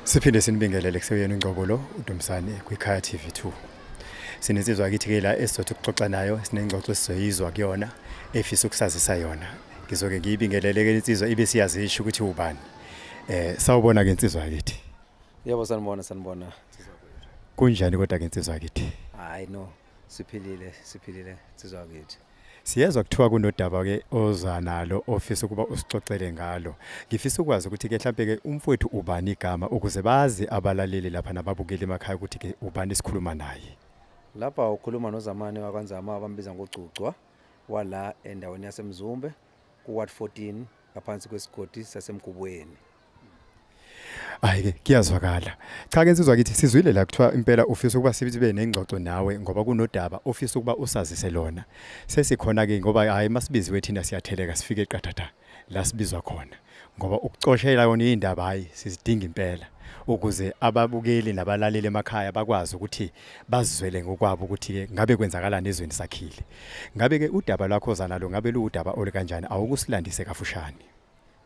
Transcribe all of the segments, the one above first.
Siphinde sinibingelele kuseyena uNgcobo lo uDumsane kwiKhaya TV2. Sinensizwa kithi ke la esizothi ukuxoxa nayo sinengxoxo esizoyizwa kuyona efisa ukusazisa yona. Ngizoke ngiyibingelele ke insizwa ibe siyazisho ukuthi ubani. Eh sawubona ke insizwa kithi. Yebo sanibona sanibona. Kunjani kodwa ke insizwa kithi? Hayi no. siphilile siphilile sizwa kithi Siyezwa kuthiwa kunodaba ke oza nalo ofisa ukuba usixoxele ngalo. Ngifisa ukwazi ukuthi ke mhlambe ke umfowethu ubani igama ukuze bazi abalaleli lapha nababukeli emakhaya ukuthi ke ubani isikhuluma naye. Lapha ukhuluma noZamani wakwaNzama abambiza ngogcugcwa wala endaweni yaseMzumbe ku-ward 14 ngaphansi kwesigodi saseMgubweni. Hayi ke kuyazwakala. Cha ke nsizwa kithi sizwile la kuthiwa impela ufisa ukuba sibe nengxoxo nawe ngoba kunodaba ofisa ukuba usazise lona. Sesikhona ke ngoba hayi masibiziwe thina siyatheleka sifike eqathatha la sibizwa khona. Ngoba ukucoshela yona indaba hayi sizidinga impela ukuze ababukeli nabalaleli emakhaya bakwazi ukuthi bazizwele ngokwabo ukuthi ke ngabe kwenzakalani ezweni sakhile. Ngabe ke udaba lwakho zanalo ngabe luwudaba olukanjani awukusilandise kafushane.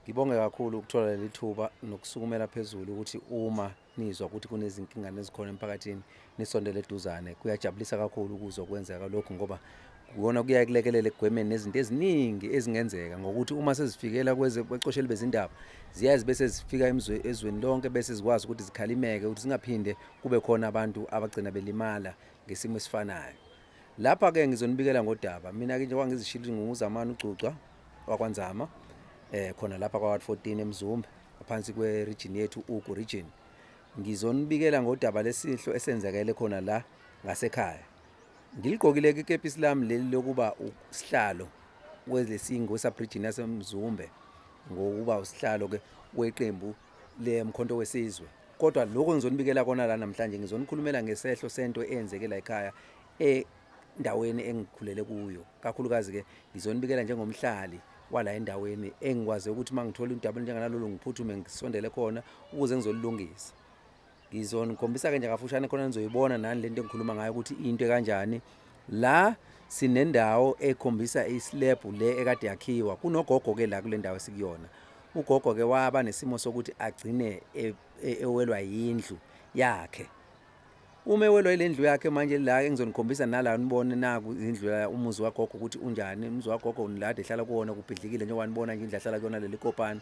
Ngibonge kakhulu ukuthola leli thuba nokusukumela phezulu ukuthi uma nizwa ukuthi kunezinkinga nezikhona emphakathini nisondele eduzane. Kuyajabulisa kakhulu ukuzwa kwenzeka lokhu ngoba kuyona kuyaye kulekelele ekugwemeni nezinto eziningi ezingenzeka ngokuthi uma sezifikela kwezebacosheli bezindaba ziyaye zibe sezifika ezweni lonke bese zikwazi ukuthi zikhalimeke ukuthi zingaphinde kube khona abantu abagcina belimala ngesimo esifanayo Lapha ke ngizonibikela ngodaba. Mina ke njengoba ngizishilo ukuthi nginguzamani uGcugcwa wakwaNzama eh khona lapha kwa 14 eMzumbe ngaphansi kwe region yethu uGu region. Ngizonibikela ngodaba lesihlo esenzekele khona la ngasekhaya. Ngiligqokile ke ikepisi lami leli lokuba usihlalo kwelesingo wesub region yaseMzumbe ngokuba usihlalo ke weqembu le mkhonto wesizwe. kodwa lokho ngizonibikela kona la namhlanje ngizonikhulumela ngesehlo sento eyenzeke la ekhaya endaweni engikhulele kuyo kakhulukazi ke ngizonibikela njengomhlali wala endaweni engikwazi ukuthi mangithola indaba njenganalolu ngiphuthume ngisondele khona ukuze ngizolilungisa ngizonikhombisa ke nje kafushane khona nizoyibona nani lento engikhuluma ngayo ukuthi into kanjani la sinendawo ekhombisa islab le ekade yakhiwa kunogogo ke la kule ndawo sikuyona Ugogo ke waba nesimo sokuthi agcine e, e, ewelwa yindlu yakhe. Uma ewelwa ile ndlu yakhe manje la engizonikhombisa nala nibone naku indlu la umuzi wagogo ukuthi unjani. Umuzi wagogo unilade ehlala kuwona kubhidlikile njengoba nibona nje indlu ahlala kuyona leli kopani.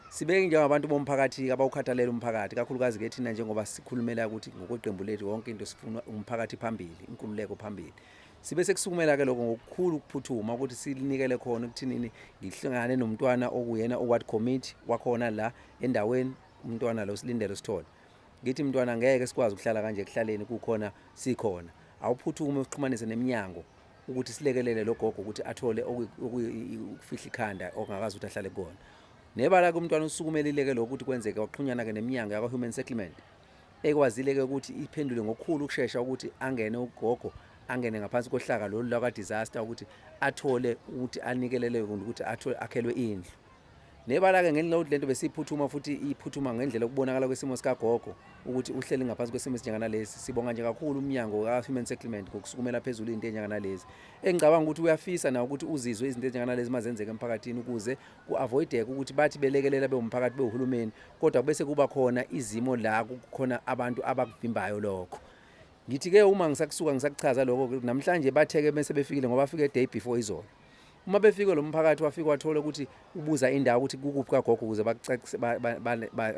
Sibeke njengabantu bomphakathi abawukhathalela umphakathi kakhulukazi ke thina njengoba sikhulumela ukuthi ngokweqembu lethu wonke into sifuna umphakathi phambili, inkululeko phambili. sibe sekusukumela-ke lokho ngokukhulu ukuphuthuma ukuthi silinikele khona ukuthinini ngihlangane nomntwana okuyena oward committee wakhona la endaweni umntwana lo silindele sithole ngithi mntwana ngeke sikwazi ukuhlala kanje ekuhlaleni kukhona sikhona awuphuthume uxhumanise neminyango ukuthi silekelele lo gogo ukuthi athole ukufihla ikhanda okungakazi ukuthi ahlale kukona nebala-ke umntwana usukumelile-ke lokho ukuthi kwenzeke kwaxhunyana-ke neminyango yakwa-human settlement Ekwazile-ke ukuthi iphendule ngokukhulu ukushesha ukuthi angene ugogo angene ngaphansi kohlaka lolu lakwa-disaster ukuthi athole ukuthi anikeleleke ukuthi athole akhelwe indlu nebala-ke ngelinye ukuthi lento besiyiphuthuma futhi iphuthuma ngendlela okubonakala kwesimo sikagogo ukuthi uhleli ngaphansi kwesimo esinjenganalesi sibonga nje kakhulu umnyango ka-human settlement ngokusukumela phezulu into enjenganalezi engicabanga ukuthi uyafisa nawo ukuthi uzizwe izinto ezinjenganalezi mazenzeka emphakathini ukuze ku-avoideke ukuthi bathi belekelela bewumphakathi bewuhulumeni kodwa bese kuba khona izimo la kukhona abantu abakuvimbayo lokho ngithi-ke uma ngisakusuka ngisakuchaza lokho namhlanje batheke bese befikile ngoba afike day before izolo uma befike lo mphakathi wafike wathola ukuthi ubuza indawo ukuthi kukuphi kagogo ukuze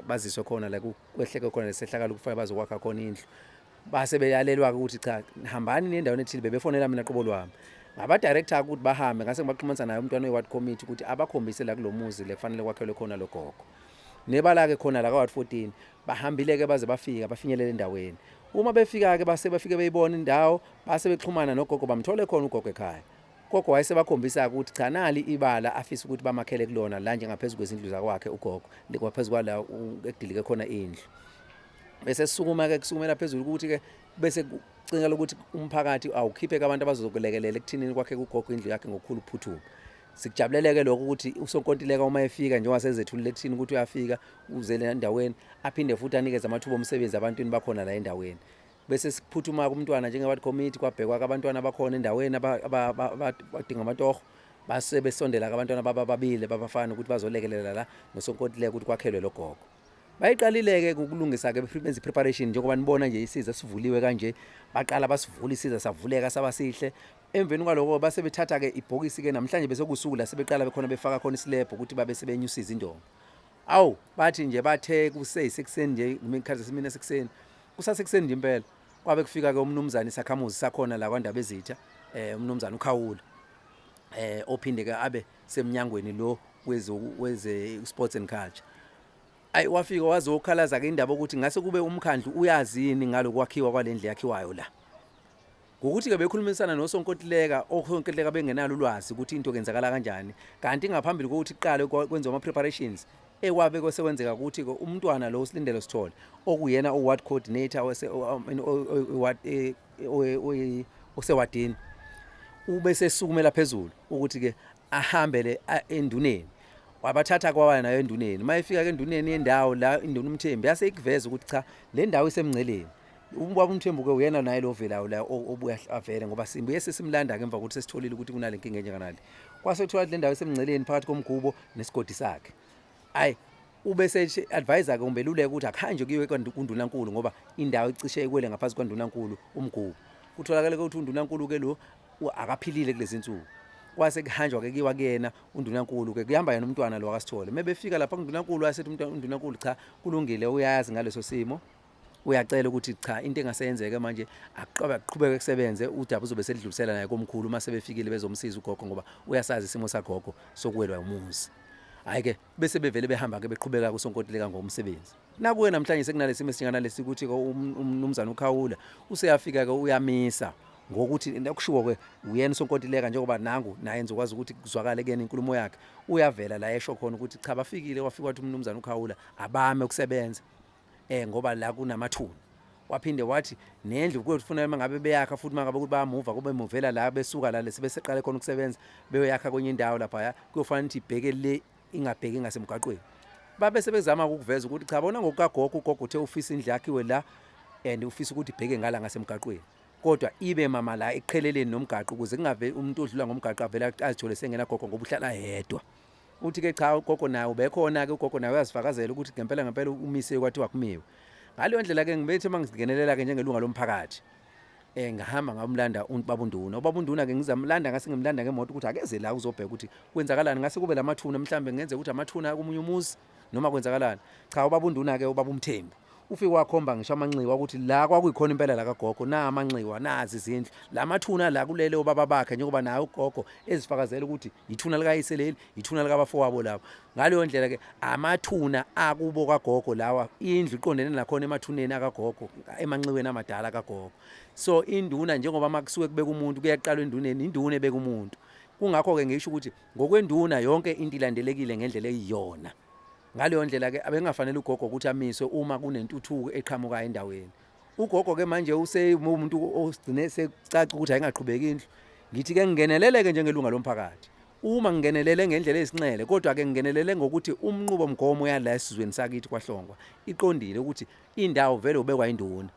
baziswe khona la kwehleke khona lesehlakalo kufanele bazokwakha khona indlu base beyalelwa-ke ukuthi cha hambani nendaweni ethile bebefonela mina qobo lwami ngabadirector ukuthi bahambe ngase ngibaxhumanisa naye umntwana we-ward committee ukuthi abakhombise la kulo muzi le kufanele kwakhelwe khona lo gogo nebala-ke khona la ka-ward 14 bahambile-ke baze bafika bafinyelele endaweni uma befika-ke base bafike beyibona indawo base bexhumana nogogo bamthole khona ugogo ekhaya gogo wayesebakhombisa-ke ukuthi cha nali ibala afise ukuthi bamakhele kulona la njengaphezu kwezindlu zakwakhe ugogo kwaphezu kwala ekudilike khona indlu bese sukuma ke kusukumela phezulu ukuthi ke bese kucingelwa ukuthi umphakathi awukhipheke abantu abazokulekelela ekuthinini kwakhe kugogo indlu yakhe ngokukhulu ukuphuthuma sikujabuleleke lokho ukuthi usonkontileka uma efika njengoba sezethulile ekuthini ukuthi uyafika uzele endaweni aphinde futhi anikeze amathuba omsebenzi abantwini bakhona la endaweni bese siphuthuma kumntwana njengabantu committee kwabhekwa abantwana abakhona endaweni abadinga amatoho base besondela abantwana babababile babafana ukuthi bazolekelela la nosonkontileka ukuthi kwakhelwe logogo bayiqalile-ke ukulungisa-ke benze i-preparation njengoba nibona nje isiza sivuliwe kanje baqala basivula isiza savuleka saba sihle emveni kwaloko base bethatha-ke ibhokisi-ke namhlanje besekusuku la sebeqala bekhona befaka khona isilebho ukuthi babe sebenyusa izindonga awu bathi nje bathe kuseyisekuseni nje ngimekhathi simina sekuseni kusasekuseni nje impela kwabe kufika ke umnumzane isakhamuzi sakhona la kwaNdabezitha eh umnumzane uKhawula eh ophinde ke abe semnyangweni lo weze weze sports and culture ayi wafika wazokhalaza ke indaba ukuthi ngase kube umkhandlu uyazini ngalokwakhiwa kwalendle yakhiwayo la ngokuthi ke bekhulumisana nosonkontileka osonkontileka bengenalo ulwazi ukuthi into kenzakala kanjani kanti ngaphambili kokuthi kuqale kwenziwa ama preparations ekwabe kwesekwenzeka ukuthi ke umntwana lo usilindelo sithole okuyena oward coordinator wase ward eh, usewadini ube sesukumela phezulu ukuthi ke ahambele enduneni wabathatha kwawaya nayo enduneni uma efika ke enduneni yendawo la induna umthembi yase ikuveza ukuthi cha le ndawo isemngceleni ubaba umthembu ke uyena naye lo velayo la obuya avele ngoba simbuye sesimlanda ke emva kokuthi sesitholile ukuthi kunale nkinga enjenganale kwase kuthiwa le ndawo isemngceleni phakathi komgubo nesigodi sakhe ayi ube se-advise-ke umbeluleka ukuthi akuhanjwe kuyiwe kundunankulu ngoba indawo icishe ikwele ngaphansi kwandunankulu umgubo kutholakale ukuthi undunankulu-ke lo akaphilile kulezi nsuku kwase kuhanjwa-ke kiwa kuyena undunankulu-ke kuhamba yena umntwana lo akasithole uma befika lapha kundunankulu asethi undunankulu cha kulungile uyazi ngaleso simo uyacela ukuthi cha into engaseyenzeke manje aqobe aqhubeke kusebenze udaba uzobe selidlulisela naye komkhulu uma sebefikile bezomsiza ugogo ngoba uyasazi isimo sagogo sokuwelwa umuzi hayi ke bese bevele behamba-ke beqhubeka kusonkontileka ngokomsebenzi nakuwe namhlanje sekunalesimo esinjenganalesi ukuthi um-, umnumzane ukhawula useyafika-ke uyamisa ngokuthi kushiwo-ke uyena usonkontileka njengoba nangu naye nizokwazi ukuthi kuzwakale kuyena inkulumo yakhe uyavela la esho khona ukuthi cha bafikile wafika wathi umnumzane ukhawula abame ukusebenza eh ngoba la kunamathuna waphinde wathi nendlu kuyofuna uma ngabe beyakha futhi uma ngabe ukuthi bayamuva kube muvela la besuka la lesi beseqale khona ukusebenza beyoyakha kwenye indawo lapha kuyofanele ukuthi ibheke le ingabheki ngasemgaqweni babe sebezama ukuveza ukuthi cha bona ngokukagogo ugogo uthe ufisa indlu yakhiwe la and ufisa ukuthi ibheke ngala ngasemgaqweni kodwa ibe mama la eqheleleni nomgaqo ukuze kungabe umuntu odlula ngomgaqo avele azithole sengenagogo ngoba uhlala yedwa uthi ke cha ugogo naye ubekhona ke ugogo naye uyazifakazela ukuthi ngempela ngempela umise kwathiwa kumiwe ngaleyo ndlela ke ngibethe uma ngingenelela ke njengelunga lomphakathi eh ngahamba ngamlanda ubaba unduna ubaba unduna ke ngizamlanda ngase ngimlanda ngemoto ukuthi akeze la uzobheka ukuthi kwenzakalani ngase kube lamathuna mhlambe ngenze ukuthi amathuna komunye umuzi noma kwenzakalani cha ubaba unduna ke ubaba umthembu ufike wakhomba ngisho amanxiwa ukuthi la kwakuyikhona impela la kagogo na amanxiwa nazi izindlu la mathuna la kulele obaba bakhe njengoba naye ugogo ezifakazela ukuthi yithuna likayise leli yithuna likabafowabo labo ngaleyo ndlela ke amathuna akubo kagogo lawa indlu iqondene nakhona emathuneni akagogo emanxiweni amadala kagogo so induna njengoba makusuke kubeka umuntu kuyaqalwa enduneni induna ebeka umuntu kungakho-ke ngisho ukuthi Ngokwenduna yonke into ilandelekile ngendlela eyiyona. Ngaleyo ndlela ke abengafanele ugogo ukuthi amiswe uma kunentuthuko eqhamuka endaweni. Ugogo ke manje useyumuntu osigcine sekucaca ukuthi ayingaqhubeki indlu. Ngithi ke ngingeneleleke njengelunga lomphakathi. Uma ngingenelele ngendlela esinxele kodwa ke ngingenelele ngokuthi umnqubo mgomo yala esizweni sakithi kwaHlongwa iqondile ukuthi indawo vele ubekwa induna.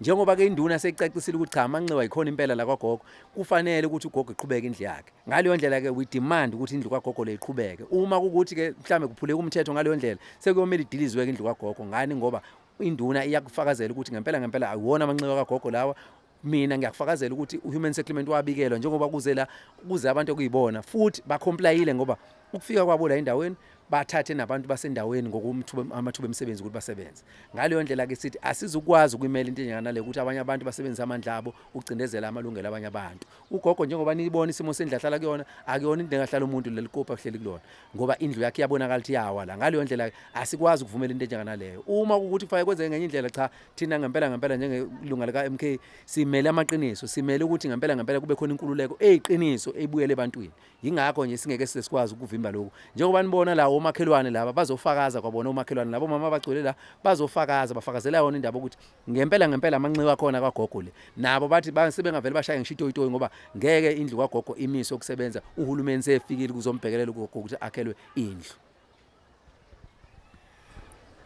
njengoba ke induna seyicacisile ukuthi cha amanxiwa yikhona impela la kwagogo kufanele ukuthi ugogo iqhubeke indlu yakhe ngaleyo ndlela ke we demand ukuthi indlu kwagogo le iqhubeke uma ukuthi ke mhlambe kuphuleka umthetho ngaleyo ndlela sekuyomela idilizwe ke indlu kwagogo ngani ngoba induna iyakufakazela ukuthi ngempela ngempela ayiwona amanxiwa kagogo lawa mina ngiyakufakazela ukuthi uhuman settlement wabikelwa njengoba kuze la kuze abantu okuyibona futhi bacomplayile ngoba ukufika kwabo la endaweni bathathe nabantu basendaweni ngokumathuba emisebenzi ukuthi basebenze ngaleyo ndlela ke sithi asizukwazi ukumela into enjengana le ukuthi abanye abantu basebenzisa amandla abo ukucindezela amalungelo abanye abantu ugogo njengoba niyibona isimo sendlu ahlala kuyona akuyona into engahlala umuntu leli kopa kuhleli kulona ngoba indlu yakhe iyabonakala ukuthi iyawa la ngaleyo ndlela asikwazi ukuvumela into enjengana leyo uma ukuthi kufanele kwenzeke ngenye indlela cha thina ngempela ngempela njengelunga lika MK simele amaqiniso simele ukuthi ngempela ngempela kube khona inkululeko eyiqiniso ebuyele ebantwini Yingakho nje singeke size sikwazi ukuvimba lokhu. Njengoba nibona la omakhelwane laba bazofakaza kwabona omakhelwane labo mama abagcwele la bazofakaza bafakazela yona indaba ukuthi ngempela ngempela amanxiwa akhona kwagogo le. Nabo bathi sebengavele bashaye ngishitoyitoyi ngoba ngeke indlu kwagogo imise ukusebenza uhulumeni sefikile kuzombhekelela ugogo ukuthi akhelwe indlu.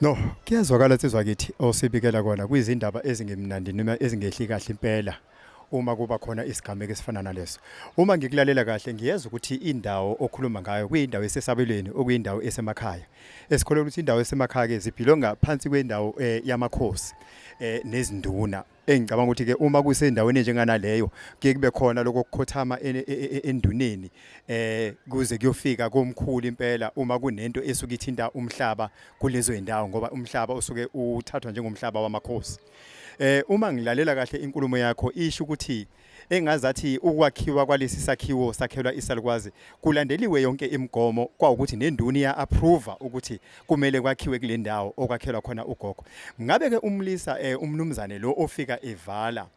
No, kuyazwakala sizwa kithi osibikela kona kwizindaba ezingemnandi noma ezingehli kahle impela. uma kuba khona isigameko esifana naleso uma ngikulalela kahle ngiyeza ukuthi indawo okhuluma ngayo kuyindawo esesabelweni okuyindawo esemakhaya esikholelwa ukuthi indawo esemakhaya ke zibhilonga phansi kwendawo eh, yamakhosi eh, nezinduna engicabanga ukuthi ke uma kusendaweni njenganaleyo kuye kube khona lokho kukhothama e, e, e, enduneni eh kuze kuyofika komkhulu impela uma kunento esuke ithinta umhlaba kulezo indawo ngoba umhlaba usuke uthathwa njengomhlaba wamakhosi eh uma ngilalela kahle inkulumo yakho isho ukuthi engazathi ukwakhiwa kwalesi sakhiwo sakhelwa isalukwazi kulandeliwe yonke imigomo kwawukuthi nenduni ya approve ukuthi kumele kwakhiwe kule ndawo okwakhelwa khona ugogo ngabe ke umlisa eh, umnumzane lo ofika evala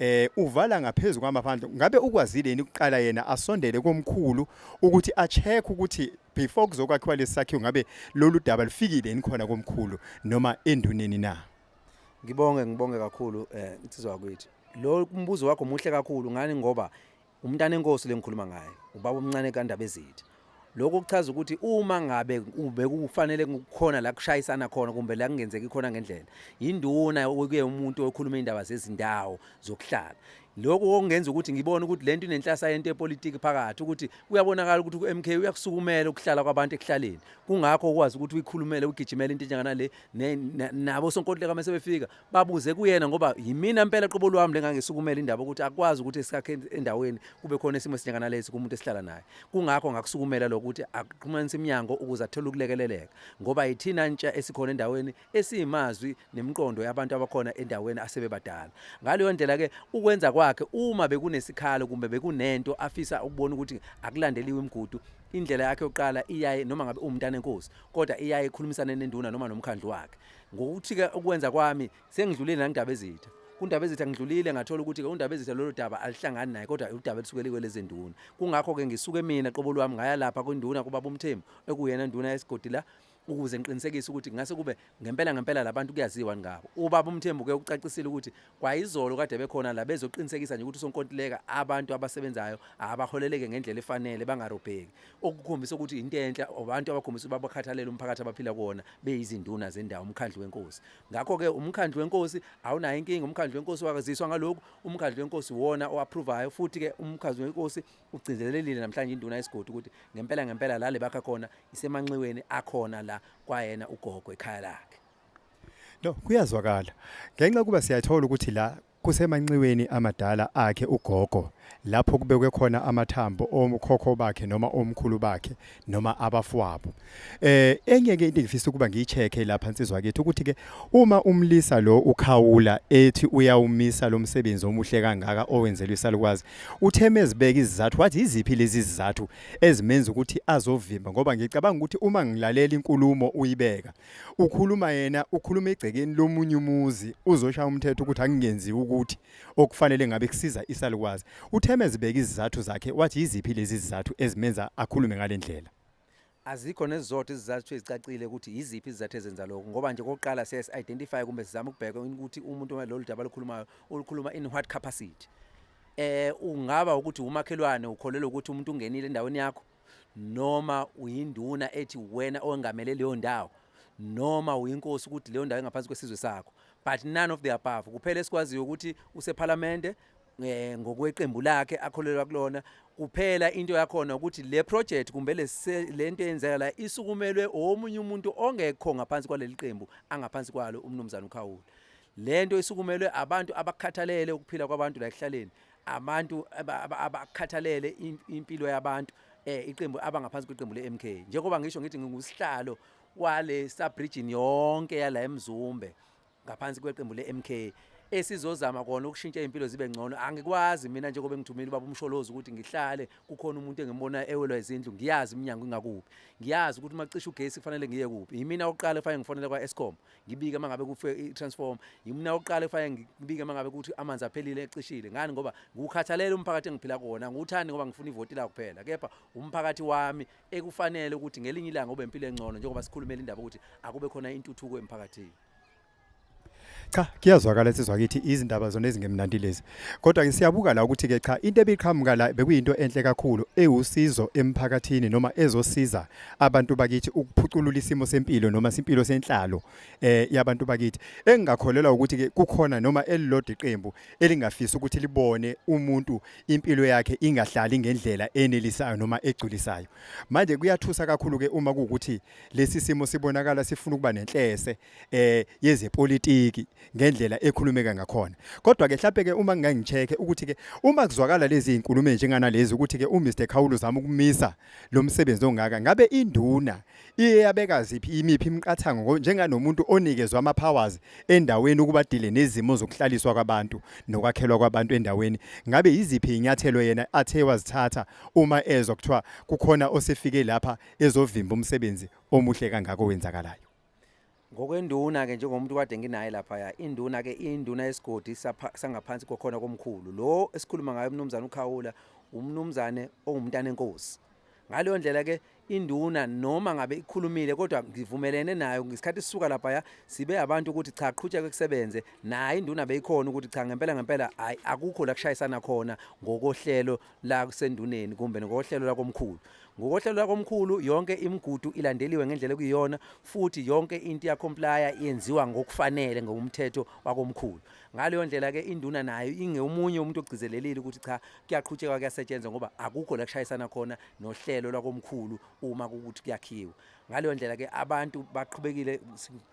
eh uvala ngaphezulu kwamaphandle ngabe ukwazile yini ukuqala yena asondele komkhulu ukuthi a check ukuthi before kuzokwakhiwa lesakhiwo ngabe lolu daba lufikile yini khona komkhulu noma enduneni na Ngibonge ngibonge kakhulu eh insizwa yakwethu. Lo mbuzo wakho muhle kakhulu ngani ngoba umntana enkosi lengikhuluma ngaye ubaba omncane kaNdaba ezithi. Lokho kuchaza ukuthi uma ngabe ubekufanele kukhona la kushayisana khona kumbe la kungenzeki khona ngendlela induna okuye umuntu okhuluma indaba zezindawo zokuhlala lokho kongenza ukuthi ngibone ukuthi lento inenhlasa yento yepolitiki phakathi ukuthi kuyabonakala ukuthi uMK uyakusukumela ukuhlala kwabantu ekuhlaleni kungakho ukwazi ukuthi uyikhulumele ugijimele into enjengana le nabo sonkontileka uma sebefika babuze kuyena ngoba yimina mpela qobo lwami lengangisukumela indaba ukuthi akwazi ukuthi esikakhe endaweni kube khona isimo esinyakana lesi kumuntu esihlala naye kungakho ngakusukumela lokuthi aqhumanise iminyango ukuze athole ukulekeleleka ngoba yithina ntsha esikhona endaweni esiyimazwi nemiqondo yabantu abakhona endaweni asebebadala ngaleyo ndlela ke ukwenza kwakhe uma bekunesikhalo kumbe bekunento afisa ukubona ukuthi akulandeliwe imigudu Indlela yakhe yokuqala iyaye noma ngabe uwumntana enkosi kodwa iyaye ikhulumisane nenduna noma nomkhandlu wakhe. Ngokuthi-ke ukwenza kwami sengidlulile nangindaba ezitha. Kundaba ezitha ngidlulile ngathola ukuthi-ke undaba ezitha lolo daba alihlangani naye kodwa udaba elisuke likwelezinduna. Kungakho-ke ngisuke mina qobo lwami ngaya lapha kwinduna kubaba uMthembu ekuyena nduna yesigodi la ukuze ngiqinisekise ukuthi ngase kube ngempela ngempela labantu kuyaziwa ngabo ubaba umthembu ke ucacisile ukuthi kwayizolo kade bekhona la bezoqinisekisa nje ukuthi sonkontileka abantu abasebenzayo abaholeleke ngendlela efanele bangarobheki okukhombisa ukuthi into enhle abantu abakhombisa ukuba bakhathalele umphakathi abaphila kuwona beyizinduna zendawo umkhandlu wenkosi ngakho ke umkhandlu wenkosi awunayo inkinga umkhandlu wenkosi wakaziswa ngaloku umkhandlu wenkosi wona oapprovayo futhi ke umkhandlu wenkosi Ugcizelelile namhlanje induna yesigodi ukuthi ngempela ngempela la lebakha khona isemanxiweni akhona la kwayena ugogo ekhaya lakhe. No, kuyazwakala. Ngenxa kuba siyathola ukuthi la kusemanxiweni amadala akhe ugogo lapho kubekwe khona amathambo okhokho bakhe noma omkhulu bakhe noma abafwabo eh enye ke into engifisa ukuba ngiyicheke lapha insizwa kethu ukuthi ke uma umlisa lo ukhawula ethi uyawumisa lo msebenzi omuhle kangaka owenzelwe isalukwazi utheme ezibeka izizathu wathi iziphi lezi zizathu ezimenza ukuthi azovimba ngoba ngicabanga ukuthi uma ngilalela inkulumo uyibeka ukhuluma yena ukhuluma egcekeni lomunye umuzi uzoshaya umthetho ukuthi angingenzi ukuthi okufanele ngabe kusiza isalukwazi. Utheme ezibeka izizathu zakhe wathi yiziphi lezi zizathu ezimenza akhulume ngale ndlela. Azikho nezizotho izizathu ezicacile ukuthi yiziphi izizathu ezenza lokho ngoba nje kokuqala siye si-identify kumbe sizame ukubheka ukuthi umuntu uma lolu daba olukhulumayo ulukhuluma in what capacity eh ungaba ukuthi umakhelwane ukholelwa ukuthi umuntu ungenile endaweni yakho noma uyinduna ethi wena owengamele leyo ndawo noma uyinkosi ukuthi leyo ndawo engaphansi kwesizwe sakho but none of the above kuphela esikwaziyo ukuthi usephalamende eh, ngokweqembu lakhe akholelwa kulona kuphela into yakhona ukuthi le project kumbe lento eyenzeka la isukumelwe omunye umuntu ongekho ngaphansi kwaleli qembu angaphansi kwalo umnumzana ukhawula Le nto isukumelwe abantu abakhathalele ukuphila kwabantu la ekuhlaleni, abantu abakhathalele impilo yabantu eh iqembu abangaphansi kweqembu le-MK njengoba ngisho ngithi ngingusihlalo wale subregion yonke yala eMzumbe ngaphansi kweqembu le-MK esizozama kona ukushintsha impilo zibe ngcono angikwazi mina njengoba ngithumile ubaba umsholozi ukuthi ngihlale kukhona umuntu engimbona ewelwa izindlu ngiyazi iminyango ingakuphi ngiyazi ukuthi uma cisha ugesi kufanele ngiye kuphi yimina oqala kufanele ngifonele kwa-escom ngibike uma ngabe kufe i-transform ngimna oqala efanele ngibike uma ngabe kuthi amanzi aphelile ecishile ngani ngoba ngukhathalele umphakathi engiphila kuwona ngiwuthandi ngoba ngifuna ivoti la kuphela kepha umphakathi wami ekufanele ukuthi ngelinye ilanga ube impilo engcono njengoba sikhulumela indaba ukuthi akube khona intuthuko emphakathini cha kuyazwakala sizwa kithi izindaba zona ezingemnandi lezi kodwa ke siyabuka la ukuthi ke cha into ebiqhamuka la bekuyinto enhle kakhulu ewusizo emphakathini noma ezosiza abantu bakithi ukuphuculula isimo sempilo noma simpilo senhlalo eh yabantu bakithi engingakholelwa ukuthi ke kukhona noma elilodwa iqembu elingafisa ukuthi libone umuntu impilo yakhe ingahlali ngendlela enelisayo noma egculisayo manje kuyathusa kakhulu ke uma ukuthi lesi simo sibonakala sifuna ukuba nenhlese eh yezepolitiki ngendlela ekhulumeka ngakhona kodwa ke mhlawumbe ke uma ngingangicheke ukuthi ke uma kuzwakala lezi inkulumo njenganalezi ukuthi ke uMr Khawulu zama ukumisa lo msebenzi ongaka ngabe induna iye yabeka ziphi imiphi imiqathango njenganomuntu onikezwa ama-powers endaweni ukuba dile nezimo zokuhlaliswa kwabantu nokwakhelwa kwabantu endaweni ngabe yiziphi iy'nyathelo yena athe wazithatha uma ezwa kuthiwa kukhona osefike lapha ezovimba umsebenzi omuhle kangako wenzakalayo ngokwenduna ke njengomuntu kade nginaye laphaya induna ke induna yesigodi sangaphansi kokhona komkhulu lo esikhuluma ngayo umnumzane ukhawula umnumzane ongumntana enkosi ngaleyo ndlela ke induna noma ngabe ikhulumile kodwa ngivumelene nayo ngesikhathi sisuka laphaya sibe abantu ukuthi cha qhutsheke kusebenze naye induna beyikhona ukuthi cha ngempela ngempela hayi akukho la kushayisana khona ngokohlelo la kusenduneni kumbe ngokohlelo lakomkhulu ngokohlelo lakomkhulu yonke imigudu ilandeliwe ngendlela kuyiyona futhi yonke into iyacomplya yenziwa ngokufanele ngokumthetho wakomkhulu ngaleyo ndlela ke induna nayo ingeumunye umuntu ogcizelelile ukuthi cha kuyaqhutshekwa kuyasetshenzwa ngoba akukho la kushayisana khona nohlelo lakomkhulu uma ukuthi kuyakhiwa ngaleyo ndlela ke abantu baqhubekile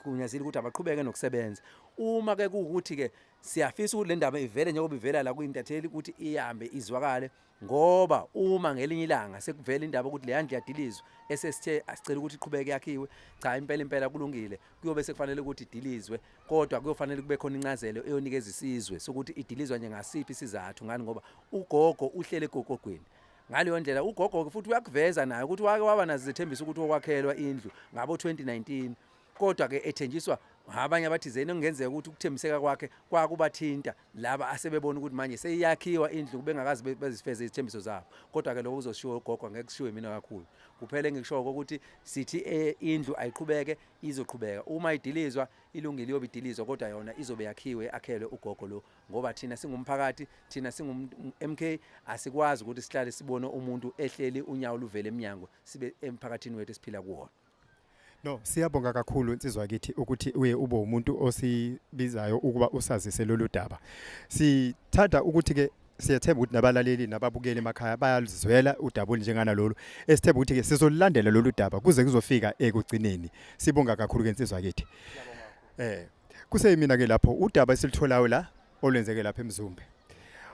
kunyazile ukuthi abaqhubeke nokusebenza uma ke kuwukuthi ke Siyafisa ukuthi le ndaba ivele njengoba ivela la kwi-intatheli ukuthi ihambe izwakale ngoba uma ngelinye ilanga sekuvela indaba ukuthi leya ndlu yadilizwa esesithe asicela ukuthi iqhubeke yakhiwe cha impela impela kulungile kuyobe sekufanele ukuthi idilizwe kodwa kuyofanele kube khona incazelo eyonikeza isizwe sokuthi idilizwa nje ngasiphi isizathu ngani ngoba ugogo uhlele egogogweni ngaleyo ndlela ugogo-ke futhi uyakuveza naye ukuthi wake waba nazo zethembiso ukuthi okwakhelwa indlu ngabo-2019 kodwa ke ethenjiswa abanye abathizeni okungenzeka ukuthi ukuthembiseka kwakhe kwakubathinta laba asebebona ukuthi manje seyiyakhiwa indlu bengakazi bezifeze izithembiso zabo kodwa-ke lokho kuzoshiwo ugogo ngeke kushiwe mina kakhulu kuphela engikushoyo ukuthi sithi eh, indlu ayiqhubeke izoqhubeka uma idilizwa ilungile iyobe idilizwa kodwa yona izobe yakhiwe akhelwe ugogo lo ngoba thina singumphakathi thina singu-mk asikwazi ukuthi sihlale sibone umuntu ehleli unyawo luvele emnyango sibe emphakathini wethu esiphila kuwona No, siyabonga kakhulu insizwa kithi ukuthi uye ube umuntu osibizayo ukuba usazise lolu daba. Sithanda ukuthi ke siyethemba ukuthi nabalaleli nababukeli emakhaya bayalizwela udaba olunjengana lolu. Esithemba ukuthi ke sizolilandela lolu daba kuze kuzofika ekugcineni. Sibonga kakhulu ke insizwa kithi. Eh, kuseyimina ke lapho udaba esilitholayo la olwenzeke lapha eMzumbe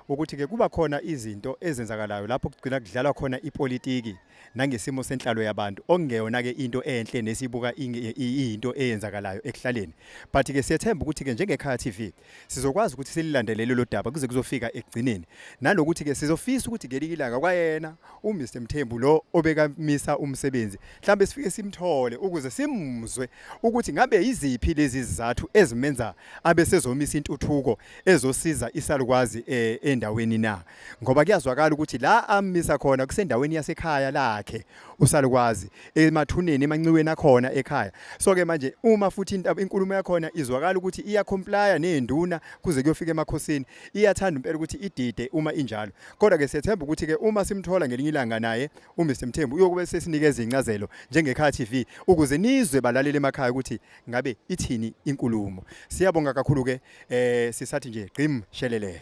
ukuthi ke kuba khona izinto ezenzakalayo lapho kugcina kudlalwa khona ipolitiki nangesimo senhlalo yabantu okungeyona ke into enhle nesibuka into eyenzakalayo ekuhlaleni but ke siyethemba ukuthi ke njengekhaya TV sizokwazi ukuthi sililandelele lo daba kuze kuzofika ekugcineni nalokuthi ke sizofisa ukuthi ngelinye ilanga kwayena uMr Mthembu lo obekamisa umsebenzi mhlambe sifike simthole ukuze simuzwe ukuthi ngabe yiziphi lezi zizathu ezimenza abe sezomisa intuthuko ezosiza isalukwazi eh, endaweni na ngoba kuyazwakala ukuthi la amisa khona kusendaweni yasekhaya lakhe usalukwazi emathuneni emanciweni akhona ekhaya so ke manje uma futhi inkulumo yakhona izwakala ukuthi iya comply nenduna kuze kuyofika emakhosini iyathanda impela ukuthi idide uma injalo kodwa ke sethemba ukuthi ke uma simthola ngelinye ilanga naye uMr Mthembu uyokube sesinikeza incazelo njengekhaya TV ukuze nizwe balalele emakhaya ukuthi ngabe ithini inkulumo siyabonga kakhulu ke eh sisathi nje gqim shelele